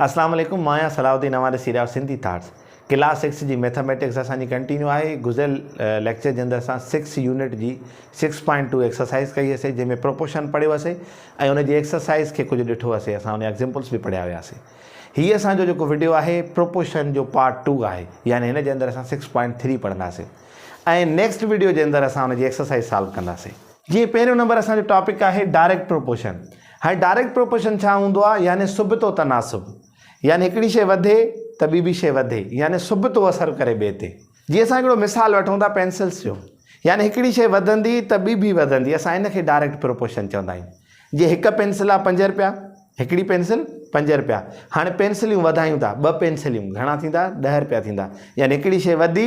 اسلام عليڪم مان آهيان صلاح الدين اوهان ڏسي رهيا آهيو سنڌي ٿاٽس ڪلاس سڪس جي ميٿاميٽڪس اسان جي ڪنٽينيو آهي گذريل ليڪچر جي اندر اسان سڪس يونٽ جي سڪس پوائنٽ ٽو ايڪسرسائز ڪئي هيسي جنهن ۾ پروپوشن پڙهيو هيسي ۽ ان جي ايڪسرسائز کي ڪجهه ڏٺو هيسي اسان ان ايگزمپلس به پڙهيا هياسي هي اسان جو جيڪو ويڊيو آهي پروپوشن جو پارٽ ٽو آهي يعني هن جي اندر اسان سڪس پوائنٽ ٿري پڙهنداسي ۽ نيڪسٽ ويڊيو جي اندر اسان ان جي ايڪسرسائز سالو ڪنداسي جي پهريون نمبر اسان جو ٽاپڪ آهي ڊائريڪٽ پروپوشن هاڻي ڊائريڪٽ پروپورشن ڇا هوندو آهي يعني سبتو تناسب يعني هڪڙي شيء وڌي ته ٻي به شيء وڌي يعني سبتو اثر ڪري ٻئي تي جي اسان هڪڙو مثال وٺون ٿا پينسلس جو يعني هڪڙي شيء وڌندي ته ٻي به وڌندي اسان ان کي ڊائريڪٽ پروپورشن چوندا آهيون جي هڪ پينسل آهي پنج رپيا هڪڙي پينسل پنج رپيا هاڻي پينسليون وڌايون ٿا ٻه پينسليون گهڻا ٿيندا ڏهه رپيا ٿيندا يعني هڪڙي شيء وڌي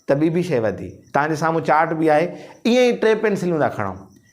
ته ٻي به شيء وڌي تانجي سامهون چارٽ به آهي ائين ئي ٽي پينسليون ٿا کڻو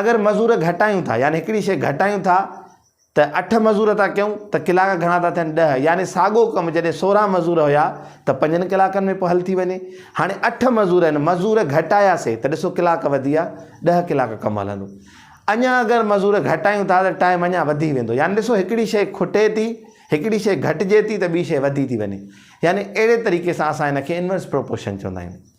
اگر مزور گهٽايون ٿا يعني هڪڙي شيء گهٽايون ٿا ته اٺ مزور ٿا ڪيون ته ڪلاڪ گهڻا ٿا ٿين ڏهه يعني ساڳو ڪم جڏهن سورهن مزور هيا ته پنجن ڪلاڪن ۾ پوء حل ٿي وڃي هاڻي اٺ مزور آهن مزور گهٽاياسي ته ڏسو ڪلاڪ وڌيا ڏهه ڪلاڪ ڪم هلندو اڃا اگر مزور گهٽايون ٿا ته ٽائيم اڃا وڌي ويندو يعني ڏسو هڪڙي شيء کٽي ٿي هڪڙي شيء گهٽجي ٿي ته ٻي شيء وڌي ٿي وڃي يعني اهڙي طريقي سان اسان هن کي انورس پروپورشن چوندا آهيون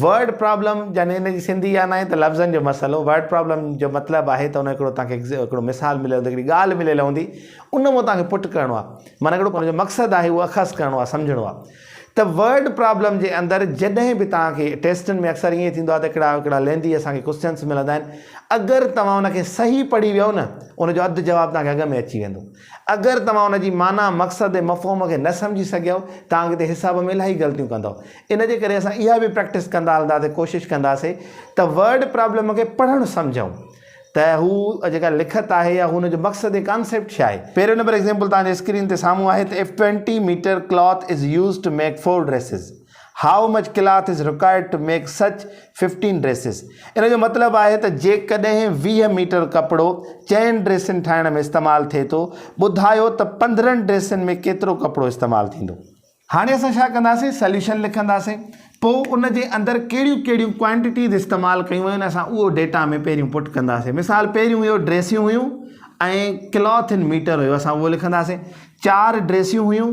ورڊ پرابلم يعني ان جي سنڌي اها ناهي ته لفظن جو مسئلو ورڊ پرابلم جو مطلب آهي ته ان جو هڪڙو توهان کي هڪڙو مثال مليل هوندو هڪڙي ڳالهه مليل هوندي ان مان توهان کي پٽ ڪرڻو آهي معنيٰ هڪڙو پنهنجو مقصد آهي اهو اخذ ڪرڻو آهي سمجهڻو آهي ته ورڊ پرابلم جي اندر جڏهن به توهان کي ٽيسٽن ۾ اڪثر ائين ٿيندو آهي ته هڪڙا هڪڙا ليندي اسان کي ڪوسچنس ملندا آهن اگر توهان ان کي صحيح پڙهي ويو نه ان جو اڌ جواب توهان کي اڳ ۾ اچي ويندو اگر توهان ان جي معنيٰ، مقصد ۽ مفهوم کي نه سمجهي سگهيو ته اڳتي حساب ۾ الائي غلطيون ڪندؤ. ان جي ڪري اسان اها به پريڪٽس ڪندا هلنداسين، ڪوشش ڪنداسين ته ورڊ پرابلم کي پڙهڻ سمجهون ته هو جيڪا لکت آهي يا هو ان جو مقصد ۽ ڪانسيپٽ ڇا آهي. پهريون نمبر ايگزيمپل توهان جي اسڪرين تي سامهون آهي ته if twenty metre cloth is used to make four dresses. How much cloth is required to make such fifteen dresses ان جو مطلب آهي ته جيڪڏهن ويهه ميٽر ڪپڙو چئن ڊريسن ٺاهڻ ۾ استعمال ٿئي ٿو ٻڌايو ته پندرهن ڊريسن ۾ ڪيترو ڪپڙو استعمال ٿيندو. هاڻي اسان ڇا ڪنداسين سليوشن لکنداسين پوء ان جي اندر ڪهڙيون ڪهڙيون ڪوانٽيٽيز استعمال ڪيون ويون آهن اسان اهو ڊيٽا ۾ پهريون پٽ ڪنداسين مثال پهريون اهو ڊريسيون هيون ۽ ڪلاٿ ان ميٽر هيو اسان اهو لکنداسين چار ڊريسيون هيون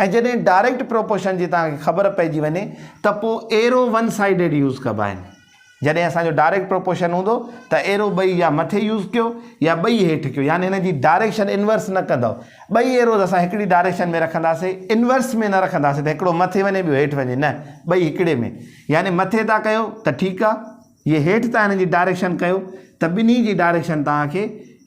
۽ جڏهن ڊائريڪٽ پروپورشن جي توهان کي خبر پئجي وڃي ته پوء ايرو ون سائيڊيڊ يوز ڪبا آهن. جڏهن اسان جو ڊائريڪٽ پروپورشن هوندو ته ايرو ٻئي يا مٿي يوز ڪيو يا ٻئي هيٺ ڪيو يعني هن جي ڊائريڪشن انورس نه ڪندؤ. ٻئي ايروز اسان هڪڙي ڊائريڪشن ۾ رکنداسين انورس ۾ نه رکنداسين ته هڪڙو مٿي وڃي ٻيو هيٺ وڃي نه ٻئي هڪڙي ۾ يعني مٿي ٿا ڪيو ته ٺيڪ آهي يا هيٺ ٿا هنن جي ڊائريڪشن ڪيو ته ٻنهي جي ڊائريڪشن توهان کي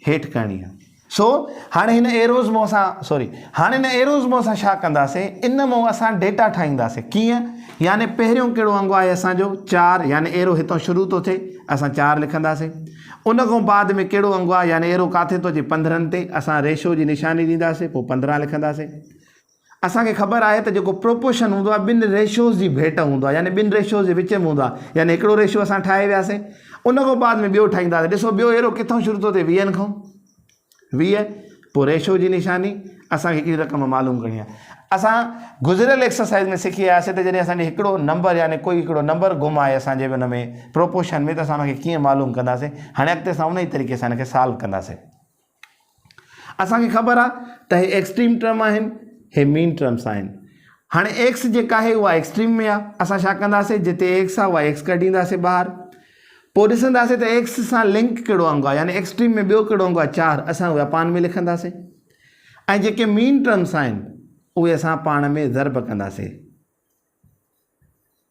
هيٺ ڪرڻي آهي. سو هاڻي هن ايروزمو سان سوري هاڻي هن ايروزمو سان ڇا ڪنداسين ان مون اسان ڊيٽا ٺاهينداسين ڪيئن يعني پهريون ڪهڙو انگ آهي اسان جو چار يعني ايرو هتان شروع ٿو ٿئي اسان چار لکنداسين ان کان بعد ۾ ڪهڙو انگ آهي يعني ايرو ڪاٿي ٿو اچي پندرهن تي اسان ريشو جي نشاني ڏينداسين پوء پندرهن لکنداسين اسان کي خبر آهي ته جيڪو پروپورشن هوندو آهي ٻن ريشوز جي ڀيٽ هوندو آهي يعني ٻن ريشوز جي وچ ۾ هوندو آهي يعني هڪڙو ريشو اسان ٺاهي وياسين ان کان بعد ۾ ٻيو ٺاهينداسين ڏسو ٻيو هيرو ڪٿون شروع ٿو ٿئي ويهن کان ويهه پوء ريشو جي نشاني اسان کي هڪڙي رقم معلوم ڪرڻي آهي اسان گذريل ايڪسرسائز ۾ سکي آياسين ته جڏهن اسان کي هڪڙو نمبر يعني ڪوئي هڪڙو نمبر گم آهي اسان جي ان ۾ پروپورشن ۾ ته اسان ان کي ڪيئن معلوم ڪنداسين هاڻي اڳتي اسان ان ئي طريقي سان ان کي سالو ڪنداسين اسان کي خبر آ ته هي ايڪسٽريم ٽرم آهن هي مين ٽرمس آهن هاڻي ايڪس جيڪا آهي اها ايڪسٽريم ۾ آ اسان ڇا ڪنداسي جتي ايڪس آ اها ايڪس ڪڍينداسي ٻاهر پوء ڏسنداسي ته ايڪس سان لنڪ ڪهڙو انگ آ يعني ايڪسٽريم ۾ ٻيو ڪهڙو انگ آ چار اسان اها پان ۾ لکنداسي ۽ جيڪي مين ٽرمس آهن اهي اسان پاڻ ۾ ضرب ڪنداسي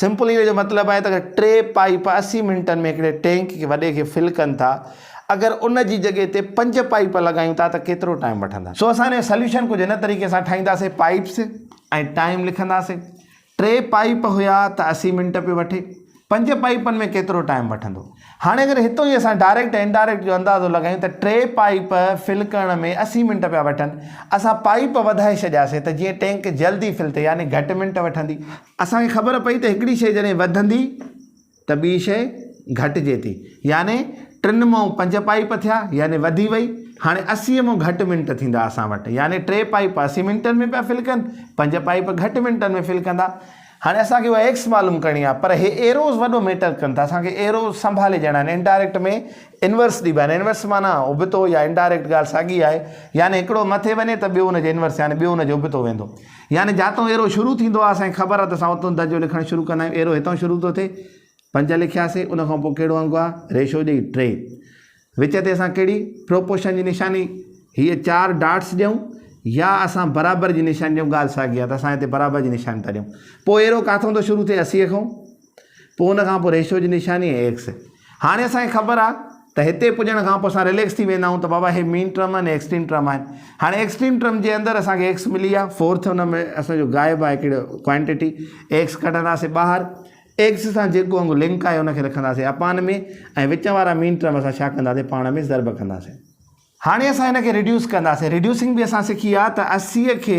سمپل ان جو مطلب آهي ته اگر ٽي پائيپ اسي منٽن ۾ هڪڙي ٽينڪ کي وڏي کي فل ڪن ٿا اگر ان جي جڳهه تي پنج پائيپ لڳايون ٿا ته ڪيترو ٽائيم وٺندا سو اسان ان جو سليوشن ڪجهه ان طريقي سان ٺاهينداسين پائيپس ۽ ٽائيم لکنداسين ٽي پائيپ هيا ته اسي منٽ پيو وٺي پنج پائيپن ۾ ڪيترو ٽائيم وٺندو هاڻي اگر هتو ئي اسان ڊائريڪٽ ۽ انڊائريڪٽ جو اندازو لڳايون ته ٽي پائيپ فل ڪرڻ ۾ اسي منٽ پيا وٺن اسان پائيپ وڌائي ڇڏياسين ته جيئن ٽينڪ جلدي فل ٿئي يعني گهٽ منٽ وٺندي اسان کي خبر پئي ته هڪڙي شيء جڏهن وڌندي ته ٻي شيء گهٽجي ٿي يعني ٽن مان پنج پائيپ ٿيا يعني وڌي وئي هاڻي اسي مان گهٽ منٽ ٿيندا اسان وٽ يعني ٽي پائيپ اسي منٽن ۾ پيا فل ڪن پنج پائيپ گهٽ منٽن ۾ فل ڪندا هاڻي اسان کي اها ايڪس معلوم ڪرڻي آهي پر هي ايروز وڏو ميٽر ڪن ٿا اسان کي ايروز سنڀالي ڄاڻا آهن انڊائريڪٽ ۾ انورس ڏيبا آهن انورس معنيٰ ابتو يا انڊائريڪٽ ڳالهه ساڳي آهي يعني هڪڙو مٿي وڃي ته ٻيو ان جي انورس يعني ٻيو ان جي ابتو ويندو يعني جاتئون ايرو شروع ٿيندو آهي اسانکي خبر آهي ته اسان اتئون درجو لکڻ شروع ڪندا آهيون ايرو هتئون شروع ٿو ٿئي پنج لکياسي ان کان پوء ڪهڙو انگ آهي ريشو ڏئي ٽي وچ تي اسان ڪهڙي پروپوشن جي نشاني هيء چار ڊاٽس ڏيئون يا اسان برابر جي نشاني ڏيئون ڳالهه ساڳي آهي ته اسان هتي برابر جي نشاني ٿا ڏيئون پوء ايرو ڪاٿئون ٿو شروع ٿئي اسيء کان پوء ان کان پوء ريشو جي نشاني ۽ ايڪس هاڻي اسان کي خبر آهي ته هتي پڄڻ کان پوء اسان ريليڪس ٿي ويندا آهيون ته بابا هي مين ٽرم آهن ايڪسٽريم ٽرم آهن هاڻي ايڪسٽريم ٽرم جي اندر اسان کي ايڪس ملي آهي فورٿ ان ۾ اسانجو غائب آهي هڪڙو ڪوانٽيٽي ايڪس ڪڍنداسي ٻاهر ایکس سان جيڪو انگ لنڪ آهي ان کي رکنداسي اپان ۾ ۽ وچ وارا مين ٽرم اسان ڇا ڪنداسي پاڻ ۾ ضرب ڪنداسي هاڻي اسان هن کي ريڊيوس ڪنداسي ريڊيوسنگ به اسان سکي آهي ته اسيء کي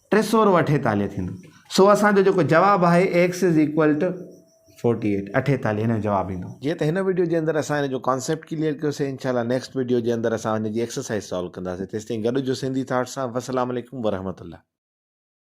ٽي سؤ رو اٺيتاليهه ٿيندو سو اسان جو جيڪو جواب آهي x is equal to forty eight اٺيتاليهه هن جو جواب ايندو. جيئن ته هن وڊيو جي اندر اسان هن جو ڪانسيپٽ ڪليئر ڪيو سي انشاء الله نيڪسٽ وڊيو جي اندر اسان هن جي ايڪسرسائز سالو ڪنداسي تيستائين گڏ هجو سنڌي ٿاٽ سان وسلام عليڪم ورحمة الله.